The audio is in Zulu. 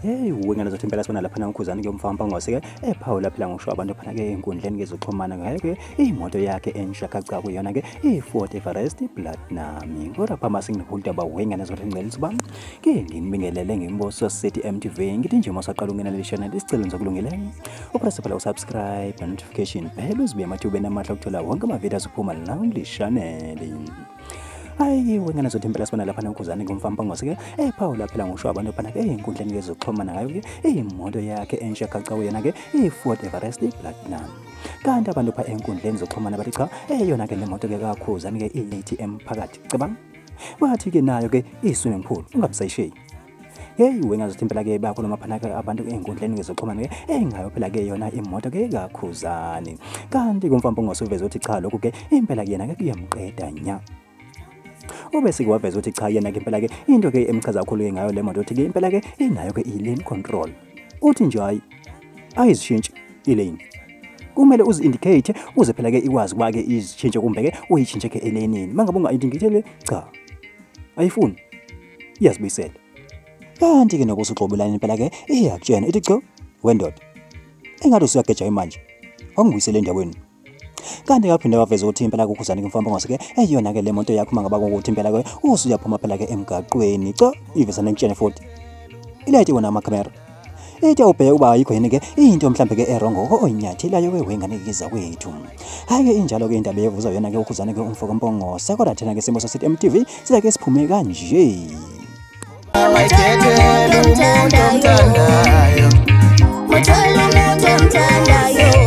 heyi uwe ngena zothi impela sibona laphana ukhuzani ke umfana mpangose ke ephawula phela ngisho abantu phana ke enkundleni ke zoxhumana ngayo ke imoto yakhe ensha kaca kuyona ke i-Ford Everest Platinum kodwa phama singihulda ba wengane zothi ngcela usuba ke nginibingelele ngimboso City MTV ngithi nje mosaqala ungena le channel isicelo ngizokulungele upress phela usubscribe notification bell uzibe amathubeni amahle ukuthola wonke ama videos uphuma la kule channel hayi wengane zothi impela sibona lapha nenkuzane ngomfampangose ke eyi phawula phela ngisho abantu phana ke eyinkundleni yezokuxhumana ngayo ke iyimoto yakhe entsha kacawu yena ke iyi-ford everest platinum kanti abantu pha enkundleni zokuxhumana bathi cha eyona ke le moto ke kakhuzane ke i-atm phakathi cabanga wathi ke nayo ke i-swimming pool ungabisayisheyi heyi wena zothi impela ke bayakhuluma phana ke abantu ey'nkundleni ngezoxhumana ke eyi ngayo phela ke yona imoto ke kakhuzani kanti kumfambo ngosuveza ukuthi cha lokhu ke impela kuyena ke kuyamqeda nya ube sikwaveza ukuthi cha yena ke impela ke into ke emchaza kakhulu ke ngayo le moto ukuthi ke impela ke inayo ke i-lane control uthi nje hayi ayizishintshi i-lane kumele uzi-indicate uze phela ke ikwazi ukuba ke izishintshe kumbe ke uyishintshe ke elenini uma ngabe unga-indicate le cha ayifuni iyazibuyisela kanti ke nokuthi uxobelani impela ke iyakutshena ithi cho wendoda engathi usuyageja imanje wangibuyisela endaweni kanti kaphinde waveza ukuthi impela kukhuzani kumfamba ngase ke eyona ke le moto yakho mangaba ukuthi impela ke usuyaphuma phela ke emgaqweni cha iveza nentshene futhi ilayite wona amakhamera Ite ubheke uba ayikho yini ke into mhlambe ke erongo oyinyathelayo oh, oh, wewengane kiza kwethu. Hayi ke injalo ke indaba yevuza yona ke ukhuzane ke umfoko Mpongo. Sekoda thina ke simo sasithi MTV siza ke siphume kanje. Awayithethele umuntu omthandayo. Muthola umuntu omthandayo.